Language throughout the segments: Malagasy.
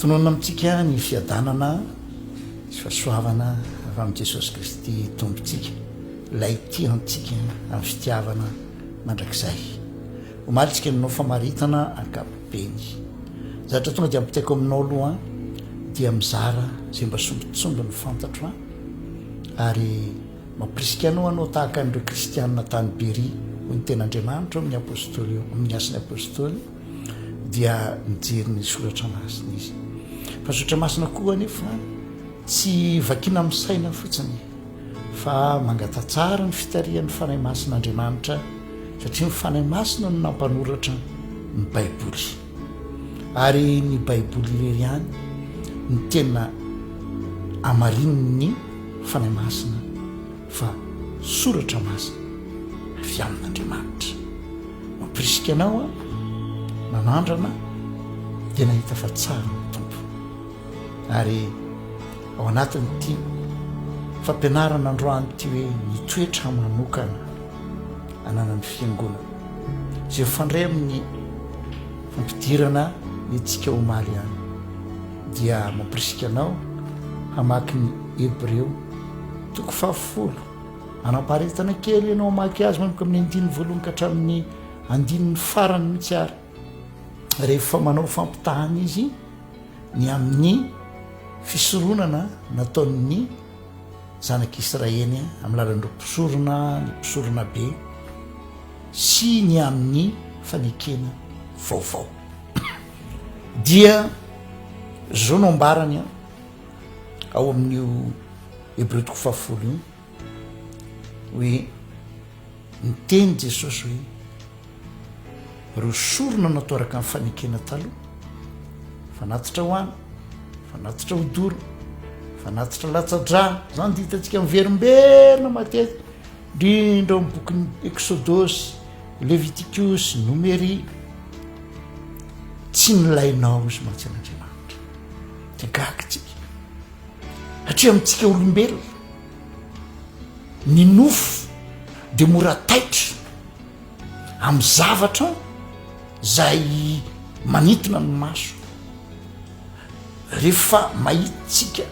Tononina amintsika ny fiadanana sy fahasoavana avy amin'i Jesosy Kristy Tompontsika, Ilay tia antsika amin'ny fitiavana mandrakizay. Omaly isika no hanao famaritana ankapobeny. Zatra tonga dia ampitaiko aminao aloha dia mizara izay mba sombintsombiny fantatro ary mampirisika anao hanao tahaka an'ireo kristianina tany Beria, hoy ny Tenin'Andriamanitra ao amin'ny Apostoly, ao amin'ny Asan'ny Apostoly. dia mijery ny soratra masina izy fa ny soratra masina koa anefa tsy vakina amin'ny saina fotsiny fa mangatatsara ny fitarihan'ny fanahy masin'andriamanitra satria ny fanahy masina no nampanoratra ny baiboly ary ny baiboly irery ihany ny tena amarin'ny fanahy masina fa soratra masina avy amin'Andriamanitra. Mampirisika anao aho manandrana ny tena hita fa tsara ny Tompo. Ary ao anatin'ity fampianarana androany ity hoe ny toetra manokana ananan'ny fiangonana izay fandray amin'ny fampidirana ny antsika omaly any dia mampirisika anao hamaky ny Hebreo Toko fahafolo. Anamparitana kely ianao hamaky azy manomboka amin'ny andininy voalohany ka hatramin'ny andininy farany mihitsy ary rehefa manao fampitahana izy ny amin'ny fisoronana nataon'ny zanak'Israely amin'ny lalan'ireo mpisorona, ny mpisorona be sy ny amin'ny fanekena vaovao. Dia zao no ambarany an. ao amin'io Hebreo toko fahafolo io hoe niteny Jesosy hoe reo sorona natao araka ny fanekena taloha fanatitra ho any fanatitra ho doro fanatitra latsa-dra zany de hitantsika miverimberina matety indrindra ny bokin'ny exodosy levitikosy nomery tsy nilainao izy mantsy an'andriamanitra Dia gaga tsika satria amintsika olombelona ny nofo dia mora taitra amin'ny zavatra izay manintona ny maso rehefa mahitsika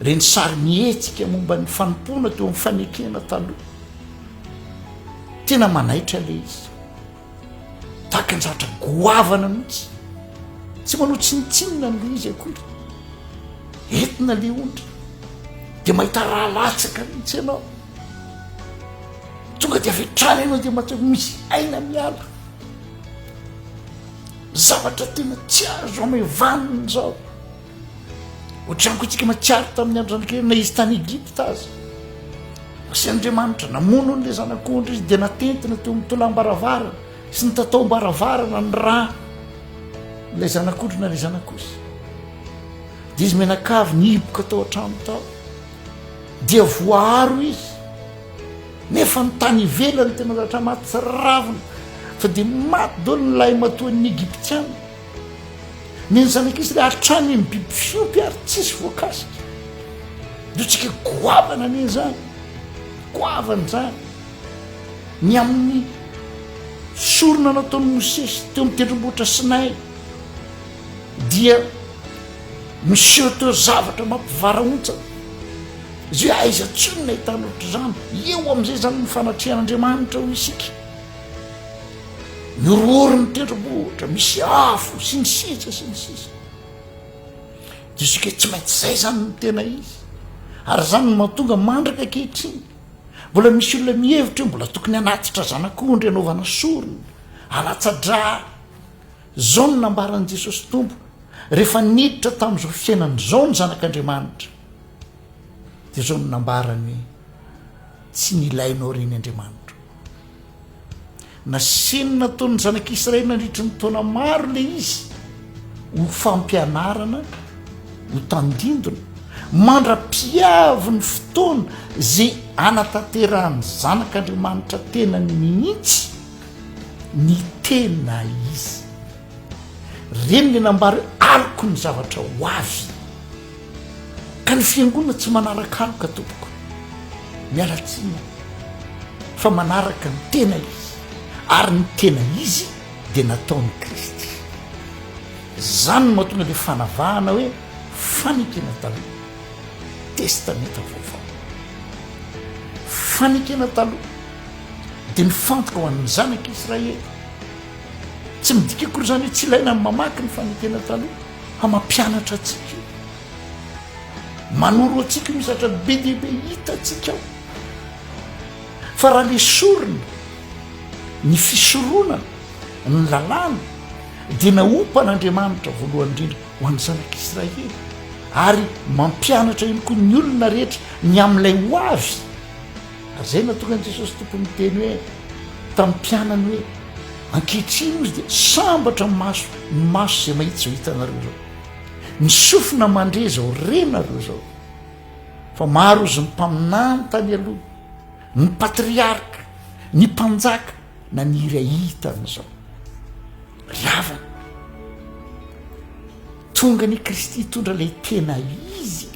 reny sary mihetsika momba ny fanompoana teo amin'ny fanekena taloha tena manaitra ilay izy Tahaka ny zavatra goavana mihitsy. Tsy manao tsinontsinona ny le izy akory. Entina le ondry. Dia mahita raha latsaka mihitsy ianao. Tonga dia avy hatrany ianao dia mahatsiaro ho misy aina miala. Zavatra tena tsy azo amevanina izao. Ohatran'ny koa tsika matsiaro tamin'ny andro zanakery na izy tany Egypta aza. Asa Andriamanitra namono ny zanak'ondry izy dia natentina teo amin'ny tolam-baravarana sy ny tataom-baravarana ny rà ilay zanak'ondry na ilay zanak'osy. Dia izy menakavy ny hiboka tao an-trano tao dia voaharo izy nefa ny tany ivelany tena latra maty sy ravina fa dia maty dolo ny lahy matoan'ny Egyptiana. Mienjanak'izy ilay hatrany amin'ny biby fiompy ary tsisy voakasika. Diotsika goavana anie izany, goavana izany. Ny amin'ny sorona nataon'i Mosesy teo amin'ny tendrombohitra Sinay dia miseho teo zavatra mampivarahontsana. Izy hoe aiza tsinona hitanao ohatr'izany? Eo amin'izay izany ny fanatrehan'Andriamanitra hoy isika. Norohoro ny tendrombohitra, misy afo, sy ny sisa sy ny sisa. Diso ke tsy maintsy izay zany ny tena izy. Ary zany no mahatonga mandraka ankehitriny. Mbola misy olona mihevitra hoe mbola tokony hanatitra zanak'ondry anaovana sorona, alatsa-dra. Zao no nambaran'i Jesosy Tompo rehefa niditra tamin'izao fiainana izao ny zanak'Andriamanitra. dia izao no nambarany tsy nilainao ireny Andriamanitro. Nasehony nataon'ny zanak'Israely nandritry ny taona maro le izy ho fampianarana ho tandindona mandra-piavy ny fotoana zay anatanterahany zanak'Andriamanitra tenany mihitsy ny tena izy. Reny le nambara hoe aliko ny zavatra ho avy. Ka ny fiangonana tsy manarakaroka tompoko miala tsiny fa manaraka ny tena izy ary ny tena izy dia nataony kristy zany no mahatonga le fanavahana hoe fanekena taloha testameta vaovao fanekena taloha dia mifantoka ho an'ny zanaka israely tsy midika akory zany hoe tsy ilaina ny mamaky ny fanekena taloha fa mampianatra antsika io, manoro antsika misy zatra be dia be hitantsika ao, fa raha le sorona ny fisoronana ny lalàna dia naompan'Andriamanitra voalohany indrindra ho an'ny zanak'Israely ary mampianatra ihany koa ny olona rehetra ny amin'ilay ho avy. Ary izay no nahatonga an'i Jesosy Tompo niteny hoe tamin'ny mpianany hoe, Ankehitriny hozy dia sambatra ny maso, ny maso izay mahita izao hitanareo izao. Ny sofina mandre izao renareo izao. Fa maro hozy ny mpaminany tany aloha, ny patriarka, ny mpanjaka naniry ahita an'izao. Ry havana, tonga ny Kristy hitondra ilay tena izy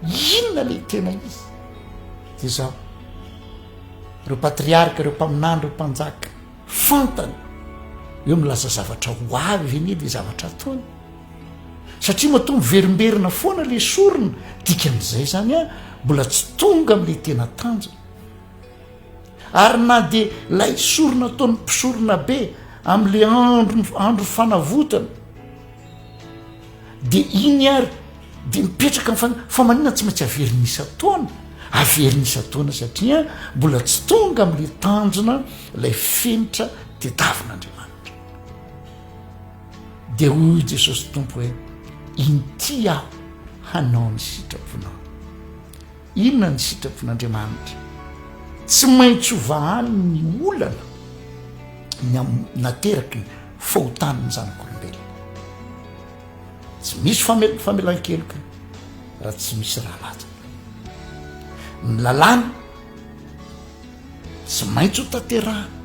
Inona ilay tena izy? Dia izao, ireo patriarika, ireo mpaminany, ireo mpanjaka, fantany hoe milaza zavatra ho avy ve anie ilay zavatra ataony? Satria matoa miverimberina foana ilay sorona, dikan'izay izany a, mbola tsy tonga amin'ilay tena tanjona. Ary na dia ilay sorona ataon'ny mpisoronabe amin'ilay andro andro fanavotana, Dia iny ary dia mipetraka ny fanahy. Fa maninona tsy maintsy averina isan-taona? Averina isan-taona satria mbola tsy tonga amin'ilay tanjona ilay fenitra tediavin'Andriamanitra. Dia hoy i Jesosy Tompo hoe inty aho hanao ny sitraponao. Inona ny sitrapon'Andriamanitra? Tsy maintsy ho vahany ny olana ny amin'ny naterakiny. Fahotany ny zanak'olombelona. Tsy misy famelan-keloka raha tsy misy raha latsaka. Ny lalàna tsy maintsy ho tanterahana.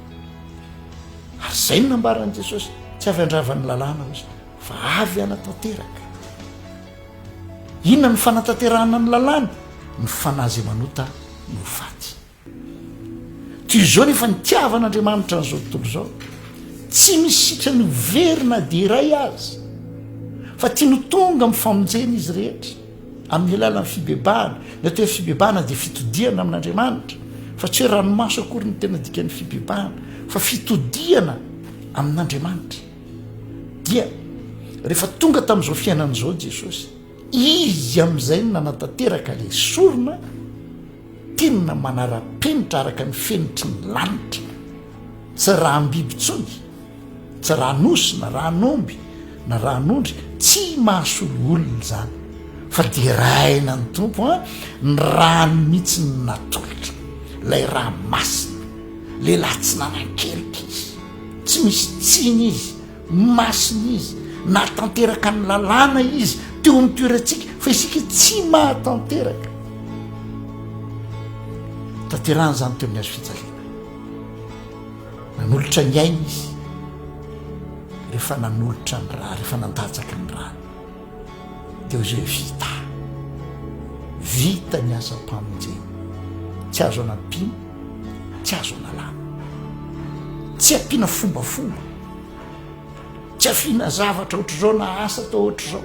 Ary izay no nambaran'i Jesosy, tsy avy handravan'ny lalàna hoy izy, fa avy hanatanteraka. Inona no fanatanterahana ny lalàna? Ny fanahy izay manota no ho faty. Toy izao nefa ny tiavan'Andriamanitra an'izao tontolo izao, tsy misy sitrany ho very na dia iray aza, fa tiany ho tonga amin'ny famonjena izy rehetra amin'ny alalan'ny fibebahana. Ny atao hoe fibebahana dia fitodihana amin'Andriamanitra, fa tsy hoe ranomaso akory ny tena dikan'ny fibebahana, fa fitodihana amin'Andriamanitra. Dia rehefa tonga tamin'izao fiainana izao Jesosy, izy amin'izay no nanatanteraka ilay sorona, Tena manara-penitra araka ny fenitry ny lanitra. Tsy raham-biby intsony, tsy raha-nosy na raha-n'omby na raha-n'ondry, tsy mahasolo olona izany, fa deraina ny Tompo an, ny rany mihitsy no natolotra, ilay rà masina. Lehilahy tsy nanan-keloka izy, tsy misy tsiny izy. Ny masina izy, nahatanteraka ny lalàna izy teo amin'ny toerantsika fa isika tsy mahatanteraka. Tanterahana izany teo amin'ny hazo fijaliana. Nanolotra ny ainy izy rehefa nanolotra ny ra, rehefa nandatsaka ny rany. Teo izay vita. Vita ny asam-pamonjena. Tsy azo anampiana, tsy azo analana. Tsy ampiana fombafomba. Tsy afiana zavatra ohatr'izao na asa atao ohatr'izao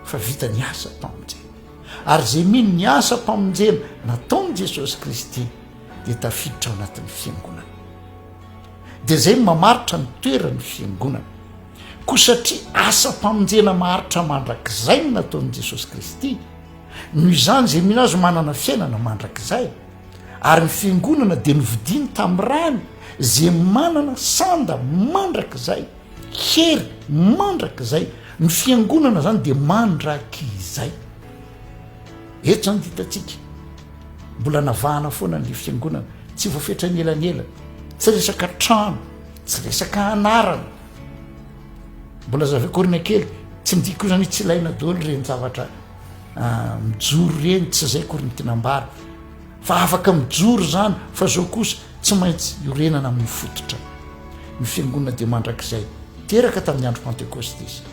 fa vita ny asam-pamonjena. Ary izay mino ny asam-pamonjena nataon'i Jesosy Kristy dia tafiditra ao anatin'ny fiangonana. Dia izay no mamaritra ny toeran'ny fiangonana. Koa satria asam-pamonjena maharitra mandrakizay no nataon'i Jesosy Kristy, noho izany izay mino Azy ho manana fiainana mandrakizay. Ary ny Fiangonana dia novidiany tamin'ny rany, izay manana sanda mandrakizay, hery mandrakizay. Ny Fiangonana izany dia mandrakizay. Eto izany dia hitantsika, mbola navahana foana ny Fiangonana, tsy voafetra an'elanelany, tsy resaka trano, Tsy resaka anarana. Mbola zava-korina kely, tsy midika ozany hoe tsy ilaina daholo ireny zavatra mijoro ireny, tsy izay akory ny tiana ambara. Fa afaka mijoro izany, fa izao kosa tsy maintsy iorenana amin'ny fototra. Ny fiangonana dia mandrakizay. Teraka tamin'ny andro Pantekosta izy.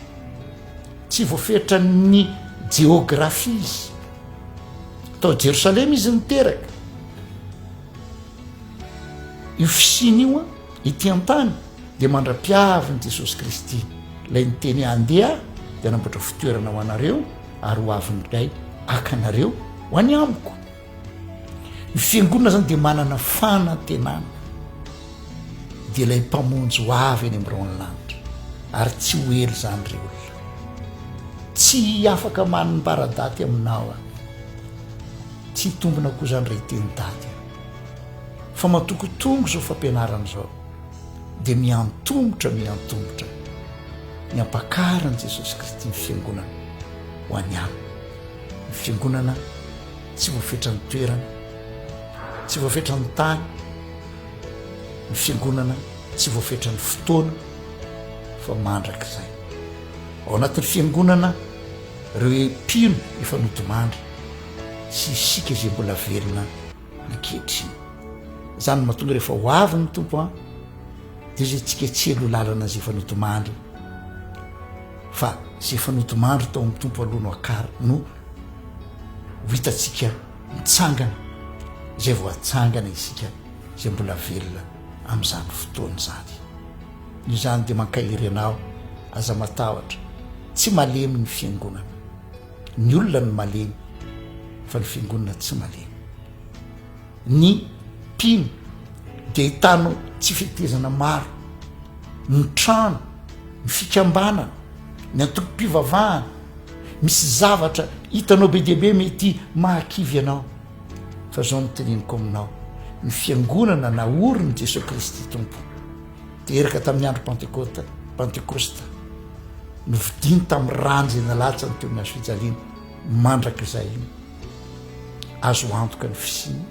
Tsy voafetra ny jeografia izy. Tao Jerosalema izy niteraka. Io fisiana io an, ety an-tany dia mandra-piavin'i Jesosy Kristy, ilay niteny hoe andeha aho dia hanamboatra fitoerana ho anareo ary ho avy indray haka anareo ho any amiko. Ny fiangonana izany dia manana fanantenana, dia ilay mpamonjy ho avy any am-biraon'ny lanitra ary tsy ho ela izany ry olona. Tsy afaka manambara daty aminao aho. Tsy hitombina koa izany raha hiteny daty aho. Fa matokotongo izao fampianarana izao, dia miantomotra, miantomotra ny hampakarin'i Jesosy Kristy ny Fiangonana ho an'ny alina. Ny Fiangonana tsy voafetran'ny toerana, tsy voafetran'ny tany, ny Fiangonana tsy voafetran'ny fotoana, fa mandrakizay. Ao anatin'ny Fiangonana ireo mpino efa nodimandry, sy isika izay mbola velona ankehitriny. Izany no mahatonga rehefa ho avy ny Tompo an, dia izay tsiketsehina ho lalana izay efa nodimandry, fa izay efa nodimandry tao amin'ny Tompo aloha no akara, no ho hitantsika mitsangana, izay vao hatsangana isika izay mbola velona amin'izany fotoana izany. Noho izany dia mankahery anao, aza matahotra, tsy malemy ny fiangonana. Ny olona no malemy fa ny fiangonana tsy malemy. Ny mpino dia ahitana tsy fetezana maro, ny trano, ny fikambanana, ny antokom-pivavahana, misy zavatra hitanao be dia be mety mahakivy anao. Fa izao no teneniko aminao, ny fiangonana naorin'i Jesoa Kristy Tompo. Teraka tamin'ny andro Pantekota, Pantekosta, novidiany tamin'ny rany izay nalatsany teo amin'ny hazo fijaliana, mandrakizay iny. Azo antoka ny fisiany,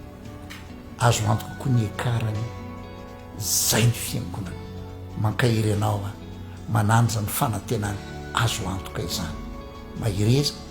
azo antoka koa ny ekarany. Zay ny fiangonana. Mankahery anao aho, manandrana ny fanantenana, azo antoka izany. Mahereza.